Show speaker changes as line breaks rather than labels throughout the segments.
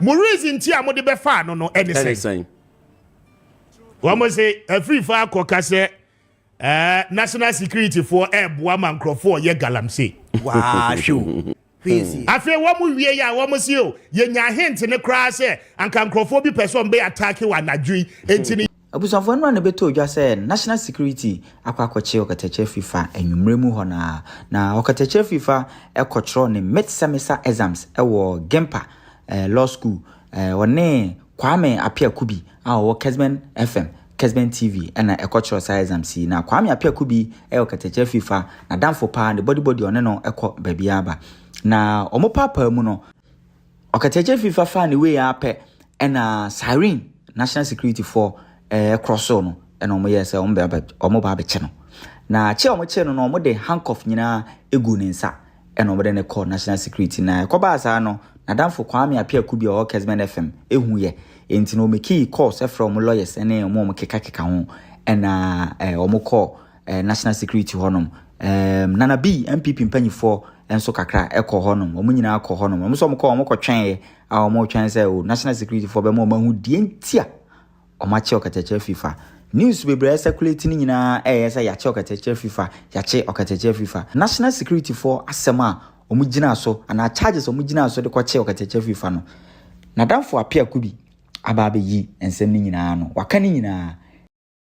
Mo reason nti a mo de bɛ faa no no ɛne sɛn? Ɛne sɛn? Wɔn se afiri fa akɔ ka sɛ ɛɛ eh, national security foɔ ɛɛboa eh, ma nkorɔfoɔ yɛ galamsey. Waa hwɛ
crazy. afei
wɔn wie yɛ a wɔn si o yɛnya hint ne koraa sɛ anka nkurɔfoɔ bi pɛ sɛ wɔn bɛ ataake wɔ anadwo yi eti ne. Abusuafo no ara na
ɛbɛtɔɔ dwa sɛ National Security akɔ akɔkye ɔkatakyire fifa anwummerɛ mu hɔ no ara, na ɔkatakyire fifa kɔtwerɛɛ ne Mid Semester Exams wɔ Gimpa Law School, ɔne Kwame Appiah Kubi a ɔwɔ Kesben FM, Kesben TV na ɛkɔtwerɛɛ saa exams yi. Na Kwame Appiah Kubi yɛ ɔkatakyire fifa n'adamfo paa, ne bɔdibɔdi ɔne no kɔ baabiara ba, na wɔpaapaa mu no, Ɔkatakyɛ fi fa faa ne wei ara pɛ ɛna siren national security foɔ ɛɛ krɔsoo no ɛna wɔn yɛɛ sɛ wɔn bɛ wɔn ba abɛkyɛ no na kyɛ wɔn kyɛ no na wɔn de handcuff nyinaa egu ne nsa ɛna wɔn de ne kɔ national security na ɛkɔbaa saa no n'adamfo Kwame Apiaku bi a ɔwɔ Kesmen FM ehu yɛ enti na wɔn kii calls ɛfrɛ wɔn lawyers ɛne wɔn wɔn keka keka ho ɛna ɛɛ wɔn kɔɔ eh, national security hɔnom um, nana bi npp mpanyifoɔ nso kakra ɛkɔ hɔnom wɔn nyinaa kɔ hɔnom wɔn nso wɔn kɔ wɔn kɔ twɛn yɛ a wɔn twɛn sɛ o oh, national security foɔ bɛma wɔn ahu deɛ ntia wɔn akyɛ ɔkatakyɛ fifa news bebree ɛsɛkuleti no nyinaa ɛyɛ sɛ yɛakyɛ ɔkatakyɛ fifa yɛakyɛ ɔkatakyɛ fifa national security foɔ asɛm a wɔn gyina so anaa charges wɔn gyina so de kɔkyɛ ɔkatakyɛ fifa no nadamfo apeako bi aba abɛyi nsɛm no nyinaa no waka no nyinaa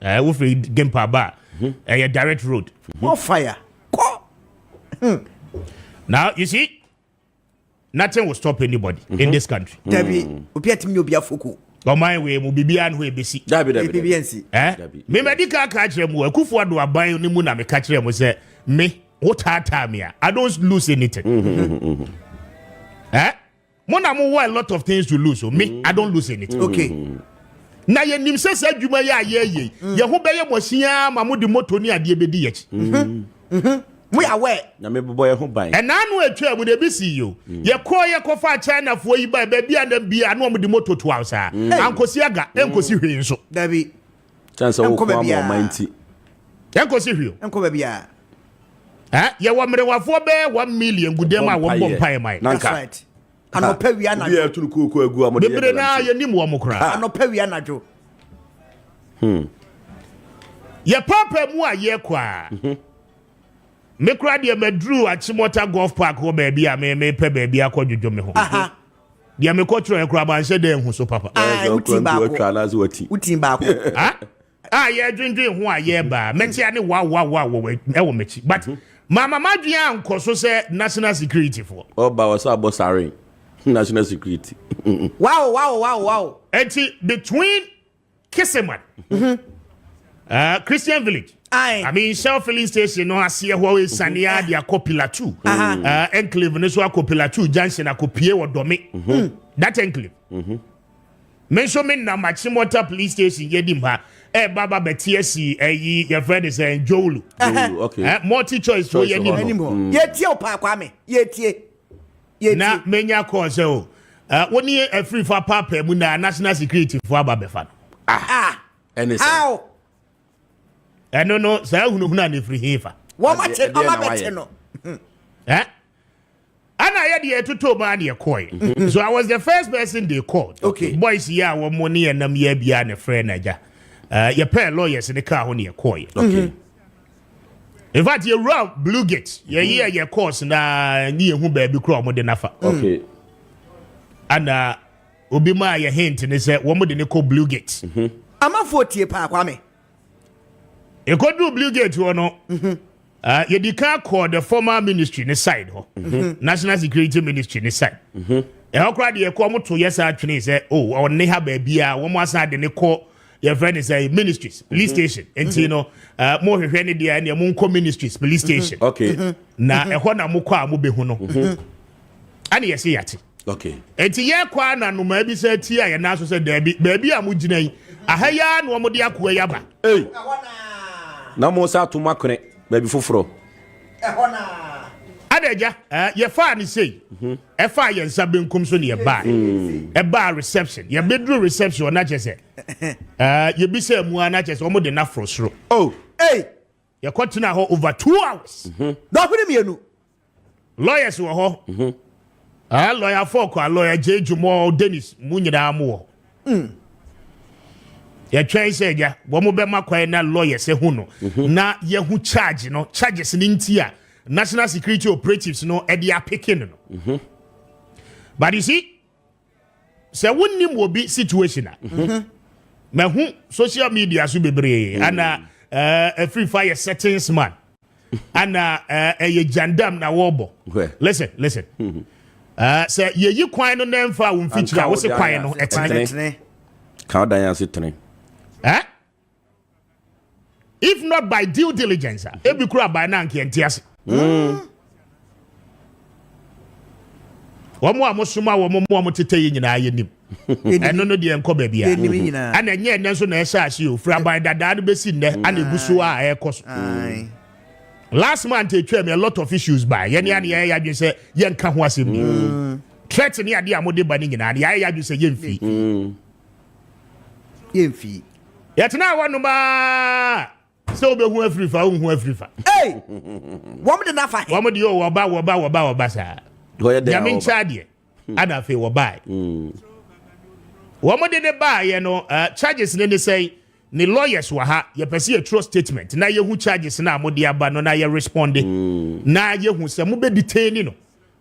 Eh, wofiri Gimpa ba a, mhm. ɛyɛ direct road. More fire.
Kɔ. Hmm.
Now, you see, nothing will stop anybody mm -hmm. in mhm. this country. Mm. Dabi, obi atimi
obi afoko. Ɔman wei mu
biribiara no hɔ ebesi. Dabi dabi dabi. Nsi.
Eh?
Mmɛdi ka ka kyerɛ mu akufo ado aban ne mu na meka kyerɛ mu sɛ me wo taataa me a I don't lose anything. Mm -hmm. Eh? Mo na mo wɔ a lot of things to lose o. Me, I don't lose anything. Okay.
Na yɛnim
sɛ saa adwuma yi a yɛyɛ yi, mm. yɛn ho bɛyɛ mo asiaa ma mode moto ne adeɛ bɛdi yɛkyi. Mm-hmm. Mm-hmm.
mo yɛ awɛ. na mebobɔ yɛn ho ban.
ɛnaa no atwa mu na
ebi si yi o mm. yɛkɔɔ yɛkɔfa chinafoɔ yi ba baabi a na bia na wɔn de moto to aw saa ankosi aga ankosi hwee nso. dabi.
Kyɛn sɛ wokɔ
ama ɔman nti. Yɛnkɔsi
hwee o. Nkɔ baabi a.
Eh,
yɛwɔ mmerewafoɔ bɛɛ one million gu dɛm a wɔn bɔ mpaeɛ ma yɛn. That's right.
Anɔpa wia anadwo. Obi a ɛturu kuo kɔ agu a wɔde yɛ
galamsey. Bebree naa yɛn nim wɔn
koraa. Anɔpa wia anadwo.
Hmm.
Yɛ paapa mu a yɛ kɔ a. Mhm. Me koraa deɛ maduru Akyemɔta Golf Park hɔ baabi a me me pɛ baabi akɔ dwodwo me ho. Aha. deɛ mekɔ twerɛ kora manhyɛ dɛ ho so papa wotin baako
wotin baako
a yɛdwendwen ho a yɛbaa mɛkyea ne wawawa wɔ m'akyi but mhm. mama madwen ankɔ so sɛ national security foɔ ɔba wɔ sɛ abɔ sare
national security wow wow
wow wow ɛti
between Kiseman. Mm-hmm. Uh, Christian Village. Aye. I mean, Shell filling station no ase ɛhɔ esane a de akɔ pillar two. Uh, enclave no so akɔ pillar two junction akɔ pie wɔ dɔme. Mm-hmm. Mm. That enclave. Mm-hmm. Me nso me nam Achimota police station yɛ di mpa ɛba ba bɛte asi ɛyi yɛfrɛ ne sɛ Njowulu. Njowulu okay.
Uh, multi choice so
yɛ ni hɔ. Yɛtie o
paa kwame yɛtie. na
menya kɔɔ sɛ o eh, wo ne afirifo apaapaa mu na national security fo aba bɛfa no ah, ah ɛne
sɛ
ɛno no saa hunahuna ne firi he fa eh? ana yɛ deɛ ɛtotɔ mu a deɛ kɔɛ mhm. so i was the first person they called okay. boys yi a
wɔn ne
yɛn nam yɛ bia ne frɛ n'agya eh, yɛpɛɛ lawyers ne kaa ho ne yɛkɔɛ in fact yɛ wura blue gate yɛ yi yɛ course na ni yɛ hu baabi kura wɔn de nafa. okay ana obi maa yɛ hint ne sɛ wɔn de ne kɔ blue gate. Mhm. amanfoɔ tie
paa kwame.
ekoduru blue gate hɔ no. Mhm. Ah, yɛdi kan kɔɔ the former ministry ne side hɔ mhm. national security ministry ne side ɛhɔ koraa deɛ ɛkɔ wɔn to yɛ saa twene sɛ o oh, ɔne ha baabi a wɔn asan de ne kɔ. yɛfrɛ ne sɛ ministries police mhm. station nti no eh, mo hwehwɛ ne deɛ ɛneɛ monkɔ ministries police mhm. station mhm. na
ɛhɔ na
mokɔ a mobɛhu no ɛne yɛse yɛate nti
yɛkɔ a
na nnomaa bi sɛ ti a yɛna so sɛ daabi baabi a mogyina yi aha yi a na wɔde akoa yi aba na
mo sɛ atom akwenɛ baabi foforɔ ɛhɔ no ara.
Ada agya, yɛfaa no sei. Mhm. Ɛfaa yɛn nsa benkum so ne yɛbaa. Mm. Ɛbaa reception. Yɛbɛduru reception ɔno akyɛ sɛ. Yɛbisa mu a no akyɛ sɛ wɔn de no aforo soro. Oh, ei.
Yɛkɔtena
hɔ over two hours. Mhm. Dɔɔko ne mmienu.
Lawyers
wɔ hɔ. Mhm. Aah lawyer fo kwa lawyer J Jumɔ Dennis mu nyinaa mo wɔ. Mm. Yɛtwɛn sɛ agya wɔn bɛma kwan na lawyers ehu no mhm. na yɛhu charge no charges ne nti a national security operatives no ɛde apeke no no. Mhm. But you see sɛ wonim obi situation a mahu social media so bebree hmm. ana ɛfiri eh, fa yɛ settings man ana eh, ɛyɛ gyandam na wɔbɔ listen listen hmm. eh, sɛ yɛyi kwan no na ɛmfa wo mfikyiri a wo se kwan no ɛtene ka wodan
ase tene
if not by due diligence a ebi kura aban na anka ɛnte ase hmm. wɔn a mosoma wɔn mu a motete yi nyinaa yɛ nim ɛno no deɛ nkɔ baabi a ɛna ɛnyɛ ɛnɛ nso na ɛhyɛ ase o firi aban dadaa no bɛsi nnɛ hmm. ana egu so a ɛrekɔ so last month etwa mi a lot of issues ba yɛn ni ani yɛn yɛ adwene sɛ yɛn nka ho asɛm ni hmm. threat ni adeɛ a mo de ba ne nyinaa yɛn yɛ adwene sɛ yɛn fi. yɛmfii. Yɛtenaa hɔnom ara sɛ wobɛhu afiri fa wonhu afiri fa. Ei!
Wɔm de nafa he. Wɔm de o wɔba wɔba
wɔba wɔba saa. Nyame nkyɛ adeɛ. Hmm. Ana afei wɔbae. Hmm. Wɔm de ne baayɛ no uh, charges ne ne sɛn ne lawyers wɔ ha yɛpɛ sɛ yɛtwerɛ statement na yɛhu charges no a mode aba no na yɛresponde hmm. na yɛhu sɛ mobɛdetaini no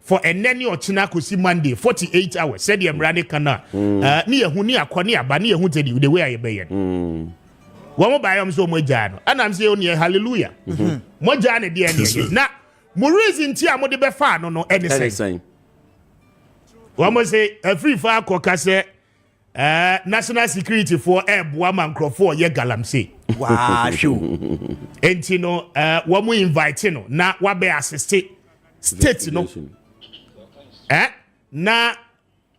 for ɛnɛ ne ɔkyena akɔsi monday 48 hours sɛdeɛ mmara ne ka no a mm. eh, ne yɛhu ne akɔ ne aba ne yɛhu tɛdi the way a yɛbɛyɛ no mm. wɔn baayɛ wɔn sɛ wɔn agyaa no ɛnam sɛ yɛn neɛ hallelujah mm-hmm. mo agyaa ne deɛ neɛ na mo reason ti a mo de bɛfa ano no ɛne sɛn wɔn sɛ afiri fa akɔ ka sɛ Eh, national security foɔ ɛɛboa eh, ma nkurɔfoɔ ɔyɛ galamsey waahwɛ o
enti no
eh, wɔn invite no na wabɛ asiste state no eh, na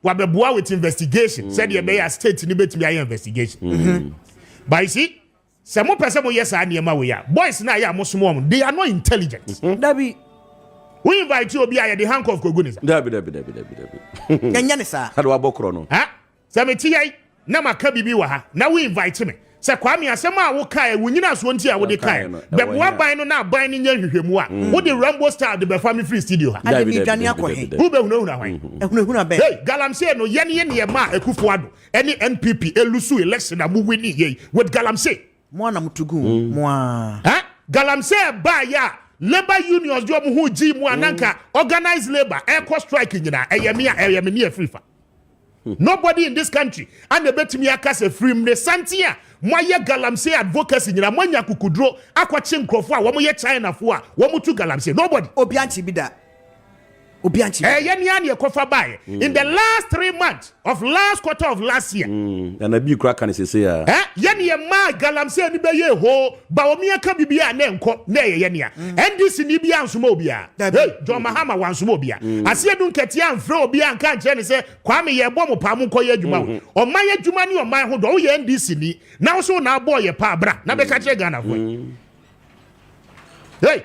wabɛboa with investigation sɛdeɛ ɛbɛyɛ a state no bɛtumi ayɛ investigation mm-hmm. but you see Sɛ mo pɛ sɛ mo yɛ saa nneɛma wei a, boys no a yɛ a mo som wɔn, they are not intelligent. Mm-hmm. Dabi.
Wo
invite obi a yɛ de handcuff kogu ne sa. Dabi dabi dabi dabi dabi.
Yɛnyɛ ne saa. Ade wabɔ korɔ no. Ha?
Sɛ me te yɛi
na ma ka bibi wɔ ha na wo invite me. Sɛ Kwame asɛm a wo kae wo nyina soɔ nti a wo de kae. Bɛboa ban no na ban no nyɛ nhwehwɛmu a. Mm. Wo de Rambo style de bɛfa me free studio ha. Ade me dwane akɔ
he. Wo bɛ hunahuna hwan.
Ehunahuna bɛ. Hey,
galamsey no yɛn
yɛ ne yɛ ma ekufu ado. ɛne npp ɛlusu election a mo wini yei with galamsey mo ana mo tugu
mm. mo a galamsey
ɛbaa yɛ a labour unions deɛ ɔmo ho gyi mu ananka mm. organized labour ɛkɔ strike nyinaa ɛyɛ me a ɛyɛ me ne ɛfiri fa hmm. nobody in this country ana ɛbɛtumi aka sɛ firi mu ne santen a moayɛ galamsey advocacy nyinaa moanya kukuduro akɔkye nkurɔfoɔ a wɔyɛ chinafoɔ a wɔtu galamsey nobody obi ankye bi da
obi ankye bi. Ɛyɛ nea nea ɛkɔfa baeɛ
in the last three months of last quarter of last year. Na na bii kora ka
no sese a. Ɛ yɛ nea ɛmaa
galamsey no bɛyɛɛ hoo Bawumia ka biribiara a na ɛnkɔ na ɛyɛ yɛ nea NDC ni biara ansoma obiara hey John Mahama wansoma obiara aseɛ du nkɛteɛ amfrɛ obiara anka ankyerɛ ne sɛ Kwame yɛbɔ mo paa monkɔ yɛ adwuma wɔ ɔman adwuma ne ɔman ho dɔ woyɛ NDC ni na wo so na abɔɔ yɛ paa bra na bɛka kyerɛ Ghanafoɔ hey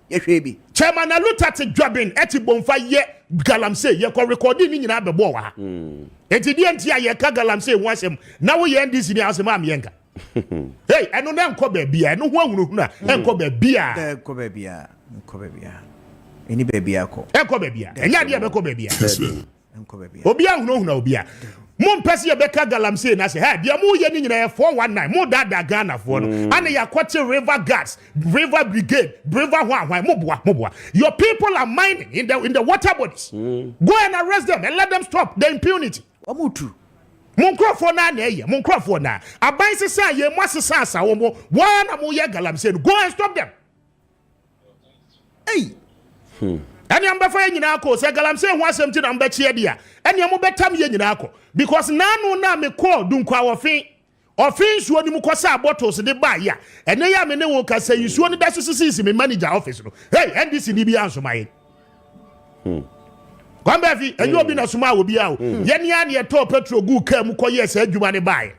Yɛhwɛɛ bi. Chairman na Luther te
Dwaben te Bomfa yɛ Galamsey yɛkɔ rekɔɔdee ne nyinaa bɛbɔɔ wɔ ha. Enti deɛ nti a yɛka Galamsey ho asɛm na woyɛ NDC ni asɛm a meɛnka. Hey, ɛno no ɛnkɔ baabiaa, ɛno ho ahunahuna ɛnkɔ baabiaa. Ɛnkɔ baabiaa,
ɛnkɔ baabiaa, ɛni baabiaa kɔ. Ɛnkɔ baabiaa, ɛnyɛ adeɛ
a ɛbɛkɔ baabiaa.
Obi ahunahuna obi a.
Mo mpɛ sɛ yɛbɛka galamsey no ase. Hɛ, deɛ mo yɛ no nyina yɛ 419. Mo daadaa Ghanafoɔ no. Mm. Ana yɛakɔte river guards, river brigade, river hwan hwan. Mo boa, mo boa. Your people are mining in the, in the water bodies. Mm. Go and arrest them and let them stop the impunity. Wɔn tu.
Mo nkurɔfoɔ
naa na ɛyɛ. Mo nkurɔfoɔ naa. Aban sesa yɛ mo asesa asa wɔn. Wɔn na mo yɛ galamsey no. Go and stop them. Ei! Hmm. ɛnea mobɛfa yɛ nyinaa kɔ sɛ galamsey ho asɛm ti na mobɛkyeɛ de a ɛnea mobɛtam yɛ nyinaa kɔ because naano na mekɔɔ dunkwa ɔfe ɔfe nsuo no mu kɔsaa bottles de baa yɛ a ɛnɛ yɛ a me ne wo kasa yi nsuo no da so sisisi me manager office no hey ndc ni bi ansoma yɛn hmm. kwambaafi ɛnyɛ obi na soma a obi a o hmm. yɛne a ne ɛtɔɔ petrol gu kaa mu kɔyɛɛ saa adwuma ne baeɛ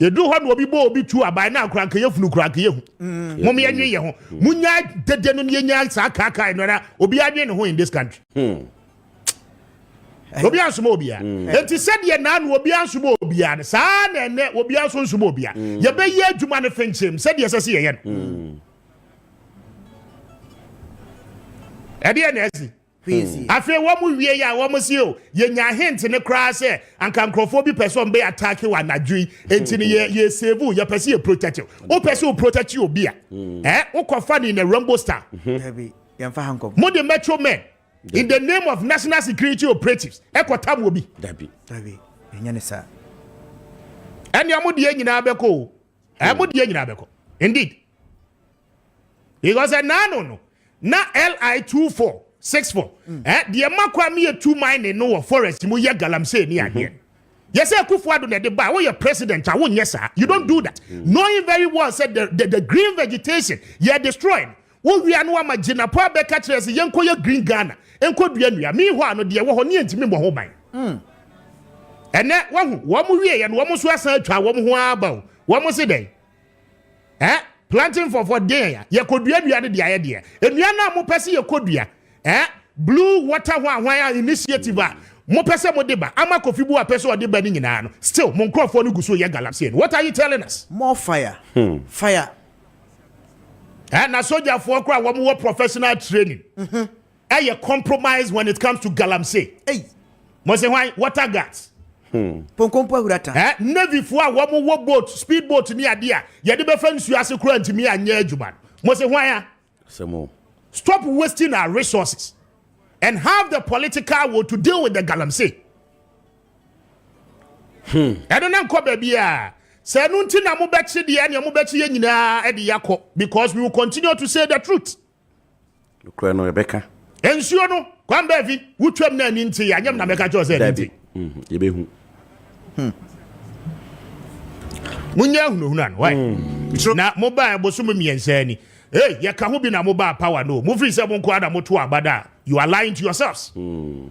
yɛduru hɔ na obi bɔ obi tu aban na akora nka yɛfunu kora nka yɛhu mm. mom yɛnwe yɛ ho mm. munya dede no yɛnya saa kaakae no ara obi adwe ne ho in this country hmm. obi ansoma obia hmm. enti sɛdeɛ naa no obi ansoma obia no saa na ɛnɛ obi anso nsoma obia hmm. yɛbɛyɛ adwuma no fenkyem sɛdeɛ ɛsɛ sɛ yɛyɛ no ɛdeɛ na asi Afei wɔwiei a, wɔse o, yɛnyaa hint no koraa sɛ anka nkurɔfoɔ bi pɛ sɛ wɔbɛ attack wo anadwo yi, enti no yɛ yɛ save wo, yɛpɛ sɛ yɛ protect wo. Wopɛ sɛ wo protect obi a, eh, wokɔfa no in a Rambo style.
Mode macho men
in the name of national security operatives kɔtam obi. Ɛnea mo deɛ nyinaa bɛkɔ o, eh, mo deɛ nyinaa bɛkɔ indeed. because ɛnaano no na li two four six four mm. eh, deɛ ɛma kɔ a meyɛ two mining no wɔ forest mu yɛ galamsey ne adeɛ mm-hmm. yɛsɛ akufo ado na ɛde ba a woyɛ president a wonyɛ saa you don't do that mm. knowing very well said the, the, the green vegetation yɛ destroy no wowia no ama gyinapo abɛka kyerɛ sɛ yɛnkɔ yɛ green ghana nkɔ dua nnua mehɔ a no deɛ wɔ hɔ ne yɛntumi mmɔ ho ban mm. ɛnɛ wahu wɔn wieɛ no wɔn nso asan atwa wɔn ho aba o wɔn se dɛn Eh, planting for for deɛ ya, yɛkɔduadua de deɛ ayɛ deɛ. Nnua no a mopɛ sɛ yɛkɔdua, eh, Blue Water ho ahwan a initiative a mopɛ sɛ mode ba ama Kofi Buwa pɛ sɛ ɔde ba no nyinaa no, still mo nkorɔfoɔ no gu so yɛ galamsey no. What are you telling us? More fire,
fire.
Eh, na sogyafoɔ koraa a wɔn wɔ professional training, ɛyɛ compromise when it comes to galamsey hey. mo
se hwan
water guards hmm. ponkompo
ahurata eh, navyfoɔ a wɔn
wɔ boat speed boat ne adeɛ a yɛde bɛfa nsuo ase kora ntumi anyɛ adwuma mo se hwan a
stop
wasting our resources and have the political will to deal with the galamsey hmm. ɛno na nkɔ baabi a sɛ ɛno nti na mobɛkye deɛ ɛneɛ mobɛkye yɛ nyinaa ɛde yakɔ because we will continue to say the truth Nokorɛ
no, yɛbɛka. Nsuo no,
kwan baafi, wotwam na ani nteeɛ, anyɛ me na mɛka kyerɛ wo sɛ ɛno nti. Mm-hmm. Yɛbɛhu.
Hmm.
Monyɛ ahunahuna no, wae. Mm. Na mobaa bosom mmiɛnsa ni. Hey, yɛka ho bi na mobaa power no. Mofiri sɛ mo nkoa na moto abada. You are lying to yourselves. Mm.